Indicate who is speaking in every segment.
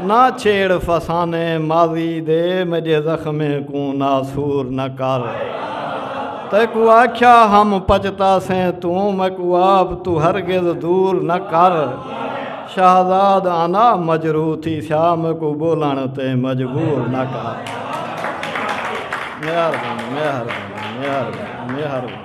Speaker 1: نہ چھیڑ فسانے ماضی دے میڈے زخمیں کوں ناسور نہ کر تیکوں آکھیا ہم پچتا سیں توں میکوں آپ توں ہرگز دور نہ کر شہزاد انا مجروح تھی سیا میکوں بولن تے مجبور نہ کر مہربانی مہربانی مہربانی مہربانی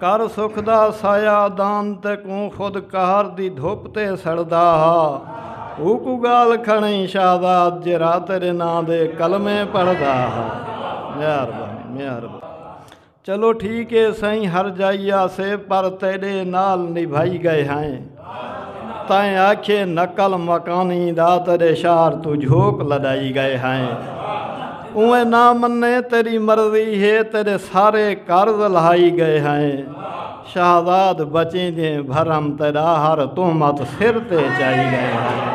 Speaker 1: کر سکدا سایہ دان تے کوں خود قہر دی دھپ تے سڑدا ہا اوکوں گالھ کھڑئیں شہزاد جے را تیرے ناں دے کلمے پڑھدا ہا مہربانی مہربانی چلو ٹھیک اے سئیں ہر جائی آسے پر تیڈے نال نبھائی گئے ہائیں۔ تائیں آکھے نقل مکانی دا تیرے شہر تو جھوک لڈائی گئے ہیں اوے نہ منے تیری مرضی ہے تیرے سارے قرض لہائی گئے ہیں شہزاد بچیں دے بھرم تیرا ہر تہمت سر تے چائی گئے ہیں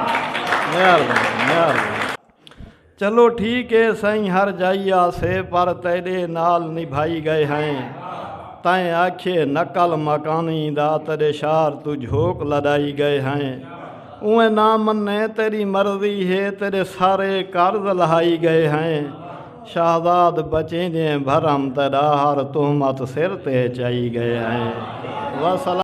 Speaker 1: چلو ٹھیک اے سئیں ہر جائی آسے پر تیڈے نال نبھائی گئے ہئیں تئیں آکھیے نقل مکانی دا تیڈے شار توں جھوک لڈائی گئے ہئیں اوئیں نہ منے تیڈی مرضی ہے تیڈے سارے قرض لہائی گئے ہئیں شہزاد بچیں جیں بھرم تیڈا ہر تہمت سر تے چائی گئے ہئیں وسلام